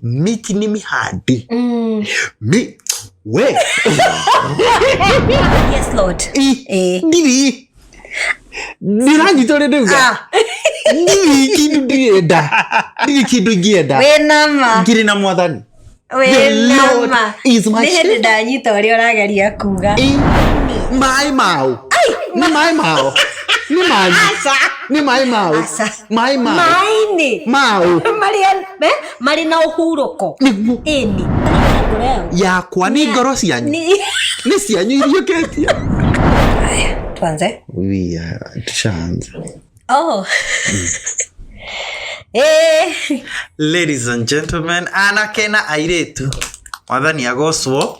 miti ni mihadi Mm. mi we Yes, Lord. i Eh. ndivi ndiranyitore ndiuga Ah, ndivi kindu ndienda ndivi kindu ngienda we nama. ngiri na mwathani The We Lord nama. is my Nĩ hĩndĩ shepherd. ndanyita ũrĩa ũrageria kuga. I- maĩ mao nĩ maĩ mao nĩ manyu nĩ maĩ mao Aca. maĩ ma maĩ-inĩ maũ marĩ eh, marĩ na ũhurũko nĩguo ĩni yakwa nĩ ngoro cianyu Ni- nĩ cianyu iriũkĩtie tuanze We are chance. oh eh Ladies and gentlemen, anake na airĩtu, mwathani agocwo.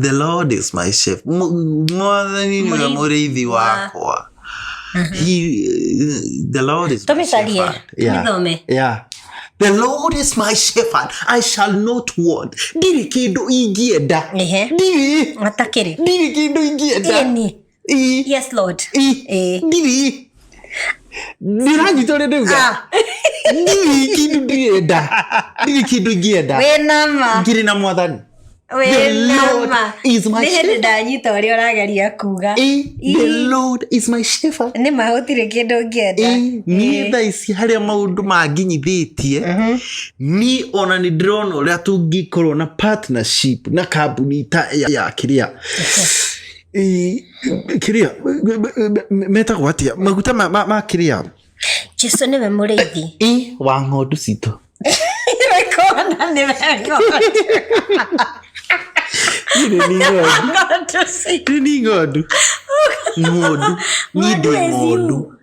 the lord is my chef Mu- mwathani nĩwe Mũrĩithi mũrĩithi wa- wakwa He, the lord is my tũmĩcarie shepherd. Yeah. tũmĩthome Yeah. The Lord is my shepherd, I shall not want. Ndirĩ kĩndũ ingĩenda. Ehe. Ndirĩ. atakĩrĩ Ndirĩ kĩndũ ingĩenda. ĩni Ii. yes lord Ii. Eh. Ndiri. Ndiranyitore rĩu ga. Ah, Ndiri kindu ndienda. Ndiri kindu ingĩenda. wĩ nama Ngiri na mwathani. The wĩ Lord nama is my nĩ hĩndĩ shepherd. ndanyita ũrĩa ũrageria kuga Ii. The Ii. Lord is my shepherd. nĩ ma gũtirĩ kĩndũ ngĩenda Ii. Niĩ thaa ici harĩa maũndũ manginyithĩtie niĩ ona nĩ ndĩrona ũrĩa tũngĩkorwo na partnership na kambuni ta ya ya kĩrĩa Ĩ, kiria metagwo atia maguta ma- ma ma kiria jesu nĩwe mũrĩithi ĩ wa ng'ondu citũ rekona nĩ wega Niĩ nĩ ni ng'ondu Ng'ondu ci- Niĩ ni ng'ondu ng'ondu niĩ ndĩ Ng'ondu is you. ng'ondu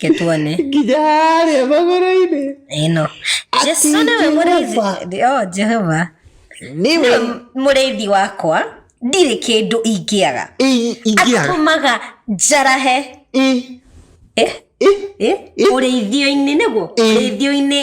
ke tuone nginya harĩa magũrũ-inĩ ĩno Ati jesu nĩwe mũrĩithi Jehova. o jehova niwe nĩwe mũrĩithi wakwa ndirĩ kĩndũ ingĩaga i- ingĩaga atũmaga njarahe i- Eh, i- eh, ũrĩithio-inĩ nĩguo Ĩ. ũrĩithio-inĩ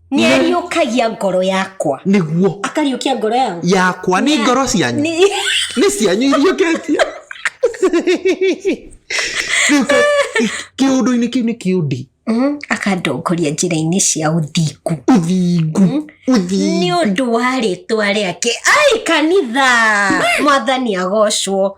nĩ ariũkagia ngoro yakwa nĩguo akariũkia ngoro yangu yakwa nĩ ngoro cianyu Nĩ- nĩ cianyu iriũkĩtie Rĩu ka- kĩũndũ-inĩ kĩu nĩ kĩũndi Mhm, akandongoria njĩra-inĩ cia ũthingu ũthingu nĩ ũthingu ũndũ wa rĩtwa rĩake ai kanitha mwathani agocwo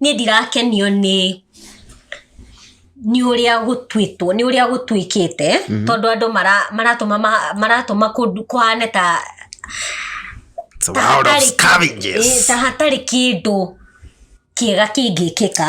Niĩ ndirakenio nĩ nĩ ũrĩa gũtuĩtwo nĩ ũrĩa gũtuĩkĩte mhm. tondũ andũ maratũma maratũma kũhane ta ta hatarĩ kĩndũ kĩega kĩngĩkĩka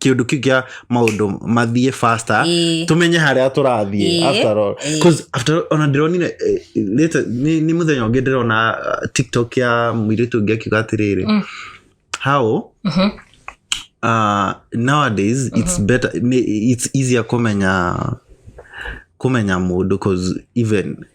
kĩũndũ kĩu kĩa maũndũ mathiĩ faster Ĩĩ. tũmenye harĩa tũrathiĩ Ĩĩ. after all Ĩĩ. 'Cause after all, ona ndĩronire eh, later- nĩ nĩ mũthenya ũngĩ ndĩrona uh, tiktok ya mũirĩtu ũngĩ akiuga atĩrĩrĩ Mm. how Mhm. uh, nowadays it's better ni- it's easier kumenya kumenya mundu cause even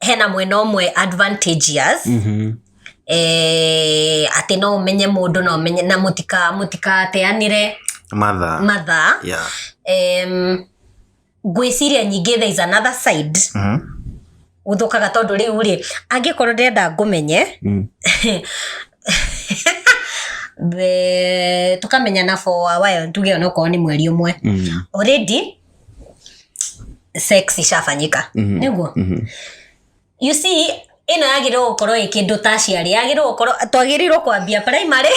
hena mwena ũmwe advantageous Mhm. eh, atĩ no ũmenye mũndũ no ũmenye na mũtika- mũtikateanĩre matha mathaa yeah. Em, ngwĩciria nyingĩ there is another side Mhm. gũthũkaga tondũ rĩu rĩ angĩkorwo ndĩrenda ngũmenye Mm. the- tũkamenyana for a while tuge onokorwo nĩ mweri ũmwe Mm. already sex icabanyĩka nĩguo you see ĩno yagĩrĩirwo gũkorwo ĩ kĩndũ ta aciari yagĩrĩirwo gũkorwo twagĩrĩirwo kwambia primary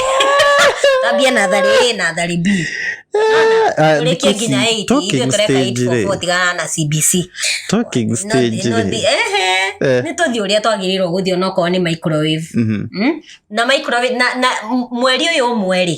twambie natharĩ ĩ natharĩ b Ah, tũrĩkie thikũ ici, nginya ĩiti talking ithuĩ tũreka stage ĩiti rĩ, gũtigana na cbc talking No- stage no- rĩ. ehe, Eh. nĩ tũthiĩ ũrĩa twagĩrĩirwo gũthiĩ onokorwo nĩ microwave Mhm. Mm? na microwave na, na m- mweri ũyũ ũmwe rĩ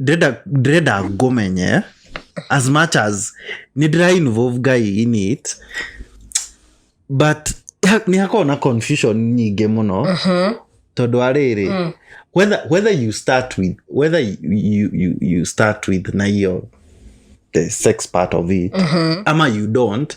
ndĩrenda ndĩrenda ngũmenye as much as nĩ ndĩra involve ngai in it but ha- nĩ hakorwo na confusion nyingĩ mũno tondũ arĩrĩ whether, whether you start with whether you, you, you, you start with na hiyo the sex part of it ama you don't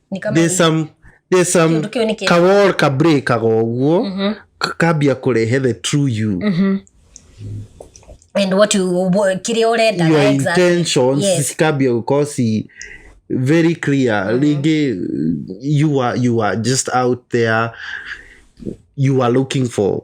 Ni kama there's some there's some Kĩndũ kĩu nĩ kĩega. kawol ka breakaga ũguo ka- kambia kũrehe the true you and what you wha- kĩrĩa ũrenda your exactly. intentions Yes. cikambia gũkorwo ci very clear rĩngĩ you are, you are just out there you are looking for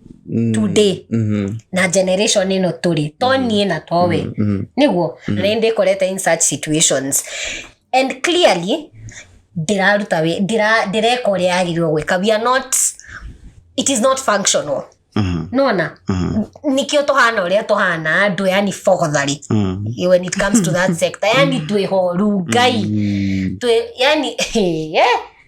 Mm, today mhm, na generation ĩno tũrĩ to niĩ na to we mhm, nĩguo na nĩ ndĩkorete in such situations and clearly ndĩraruta wĩ- ndĩra- ndĩreka ũrĩa yagĩrĩirwo gwĩka we are not it is not functional mhm, nona mhm, nĩkĩo tũhana ũrĩa tũhana andũ yani bogotharĩ mhm. when it comes to that sector yani twĩ horu ngai Mm, twĩ yani yeah.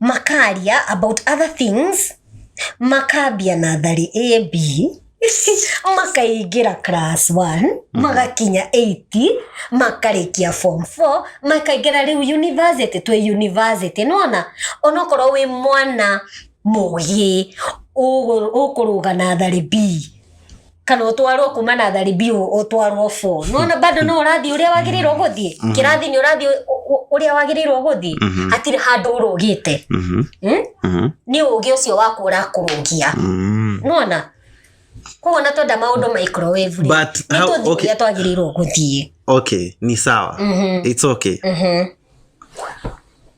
makaria about other things makambia natharĩ a b makaingĩra class 1 magakinya 8 makarĩkia form 4 makaingĩra rĩu university twĩ university nona onokorwo wĩ mwana mũgĩ ũkũrũga natharĩ b kana utwarwo kuma na thari biu utwarwo fo nona bado no urathi uria wagirirwo guthii Mhm. kirathi ni urathi uria wagirirwo guthii Mhm. hatiri handu urugite Mhm. Hmm? Mhm. ni ugi ucio waku urakurungia Mm. nona koguo na twenda maundu microwave rĩ, But nĩ how- tũthiĩ okay. ũrĩa twagĩrĩirwo gũthiĩ okay ni sawa Mhm, it's okay mhm.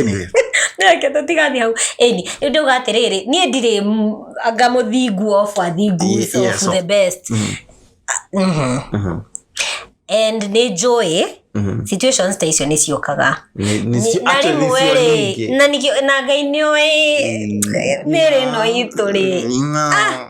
anyway nake tũtigani hau ĩni rĩu ndauga atĩrĩrĩ niĩ ndirĩ m- anga mũthingu of athingu Ye- so yes, of of- the best Mhm, Mhm. mhm, and nĩ njũĩ mhm. situations ta icio nĩ ciũkaga Ni- ni- Ni- na actually, rĩmwe sio rĩ nyingi. na nĩkĩo- na ngai nĩ ũĩ mĩrĩ ĩno itũ rĩ Mm, no.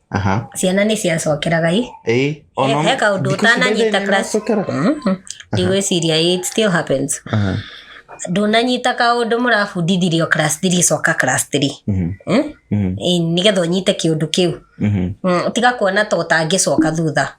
Aha. ciana nĩ ciacokeraga i Ĩĩ, o na- he kaũndũ thikũ ici ũtananyita ndũthĩni class. nacokeraga. Mhm. ndigwĩciria ĩ, it still happens Aha. ndũnanyita kaũndũ mũrabundithirio class three coka class three Mhm. Eh? Mhm. Ĩ, nĩgetha ũnyite kĩũndũ kĩu Mhm. Mm, tiga kuona ta ũtangĩcoka thutha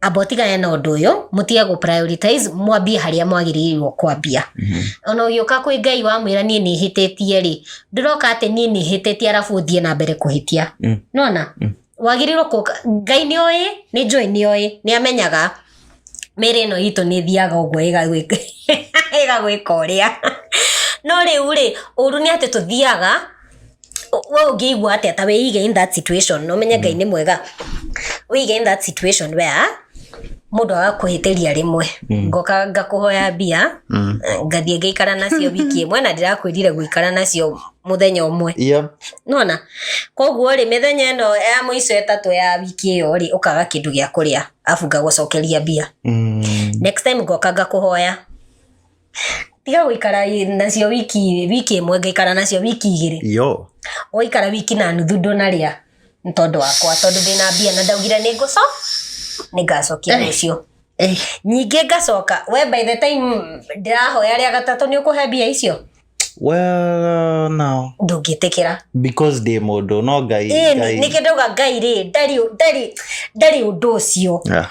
amba ũtigane na ũndũ ũyũ mũtige gũ prioritize mwambie harĩa mwagĩrĩirwo kwambia ona ũgĩũka kwĩ ngai wamwĩra niĩ nĩhĩtĩtie rĩ ndĩroka atĩ niĩ nĩhĩtĩtie arabu ũthiĩ na mbere kũhĩtia Mm. nona Mm. wagĩrĩirwo kũka ngai nĩ oĩ nĩ njũĩ nĩ oĩ nĩ amenyaga mĩrĩ ĩno itũ nĩ thiaga ũguo ĩgagwĩka ĩgagwĩka ũrĩa no rĩu rĩ ũru nĩ atĩ tũthiaga we ũngĩigua atĩa ta wĩige in that situation na ũmenye ngai nĩ mwega wĩige in that situation where mũndũ agakwĩhĩtĩria rĩmwe ngoka ngakũhoya mbia ngathiĩ ngaikara nacio wiki ĩmwe na ndĩrakwĩrire gũikara nacio mũthenya ũmwe Yep. nona koguo rĩ mĩthenya ĩno ya mũico ĩtatũ ya wiki ĩyo rĩ ũkaga kĩndũ gĩa kũrĩa abu ngagũcokeria mbia Mm. next time ngoka ngakũhoya tiga gũikara i- nacio wiki wiki ĩmwe ngaikara nacio wiki igĩrĩ yo ũgaikara wiki na nuthu ndũnarĩa nĩ tondũ wakwa tondũ ndĩna mbia na ndaugire nĩ ngũco nĩ ngacokia rũciũ Eh, nyingĩ ngacoka we by the time ndĩrahoya rĩa gatatũ nĩ ũkũhe mbia icio well now ndũngĩtĩkĩra because ndĩ mũndũ no ngai Ĩĩ, ngai- nĩkĩndauga ngai rĩ ndarĩ ndarĩ ndarĩ ũndũ ũcio Yeah.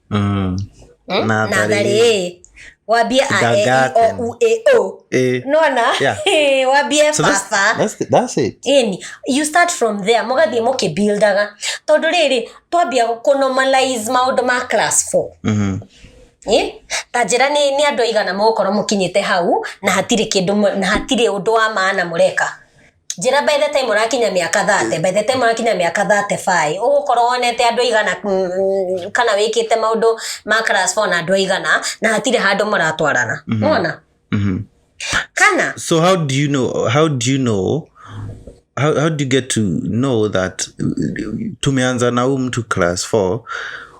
Mm. Hmm? Na na atharĩ. atharĩ wambie a e i Kindergarten. o u e o Eh, nona Yeah. wambie so that's, baba that's, the- that's it Ĩni, you start from there mũgathiĩ mũkĩbuildaga tondũ rĩrĩ twambia kũnormalize maũndũ ma class 4 Mhm. Ĩ? ta njĩra nĩ nĩ andũ aigana mũgũkorwo mũkinyĩte hau na hatirĩ kĩndũ mũ- na hatirĩ ũndũ wa maana mũreka njĩra by the time ũrakinya mĩaka thate by the time ũrakinya mĩaka thate baĩ ũgũkorwo wonete andũ aigana mm, kana wĩkĩte maũndũ ma class four na andũ aigana na hatirĩ handũ mũratwarana mona Mhm. kana So how do you know? How do you know? How, how do you get to know that uh, tumeanza na huyu mtu class 4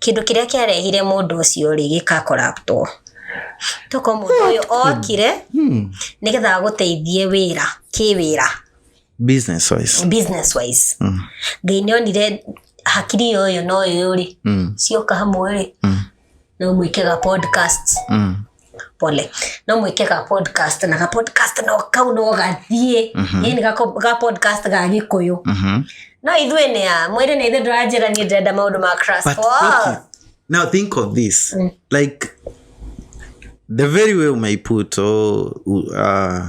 kĩndũ kĩrĩa kĩarehire mũndũ ũcio rĩ gĩkakoraptwo toko mũndũ ũyũ okire Hmm. nĩgetha agũteithie wĩra kĩwĩra business wise business wise Mm. ngai nĩ onire hakiri yo ũyũ na ũyũ rĩ Mm. cioka hamwe rĩ Mm. no mwĩke ga podcast Mm. pole no mwike ka podcast na ka podcast no kau no gathie Mhm. yani ka ko- ka podcast ga gikuyu Mhm. no ithuĩ nĩ a mwĩrĩ nĩ ithuĩ ndũranjĩra niĩ ndĩrenda maũndũ ma crash But Wow. okay, now think of this. Mm. Like the very way umeiput oh, u- uh,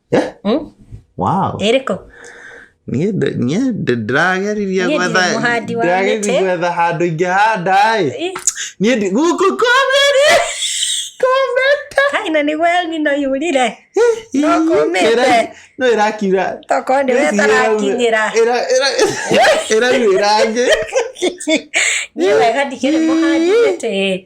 Eh? Mm? wow ĩrĩkũ niĩ ndĩ- niĩ ndĩ- ndĩrageririe Niĩ gwetha ndirĩ mũhandi wa ndĩrageririe mĩtĩ. gwetha handũ ingĩhanda ĩ Ih, niĩ ndĩ- gũkũ komeri kometa kai na nĩguo yani no yurire no kũmĩte no ĩrakiura tokorwo nĩ we tarakinyĩra ĩraruĩra ngĩ niĩ wega ndikĩrĩ mũhandi mĩtĩ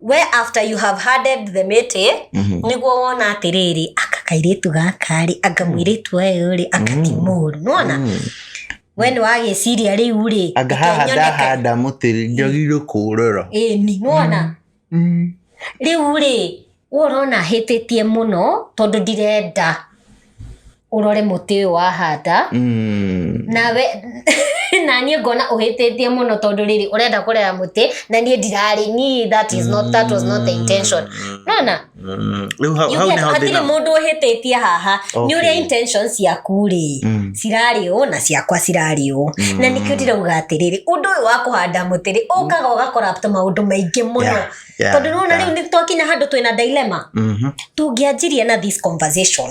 we after you have handed the mĩtĩ Mhm. nĩguo wona atĩrĩrĩ aka kairĩtu gaka rĩ anga mũirĩtu ũyũ rĩ aka ti mũru nona Mm. we nĩ wagĩciria rĩu rĩ anga reke haha nyone ka- ndahanda mũtĩ rĩ, njagĩrĩirwo kũũrora ĩni nona Mm. rĩu rĩ we ũrona hĩtĩtie mũno tondũ ndirenda ũrore mũtĩ ũyũ wahanda Mm. nawe na niĩ ngona ũhĩtĩtie mũno tondũ rĩrĩ ũrenda kũrera mũtĩ na niĩ ndirarĩ niĩ that is not that was not the intention nona Mm. Rĩu hau- hau nĩho hatirĩ thĩna- mũndũ ũhĩtĩtie haha nĩ Okay. ũrĩa intention ciaku rĩ Mm. cirarĩ ũũ na ciakwa cirarĩ ũũ na nĩkĩo ndirauga atĩrĩrĩ ũndũ ũyũ wa kũhanda mũtĩ rĩ ũkaga ũgakora maũndũ maingĩ mũno Yeah, yeah, tondũ nona yeah. rĩu nĩ twakinya handũ twĩna dilemma Mhm. tũngĩanjirie na this conversation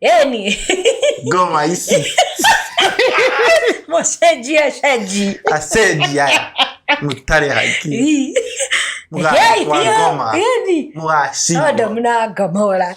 Eni. Goma ici. Mũcenji acenji. Acenji aya. Mũtarĩ haki. Mũgakua ngoma. Mũgacinwo. Tondu mna ngomora.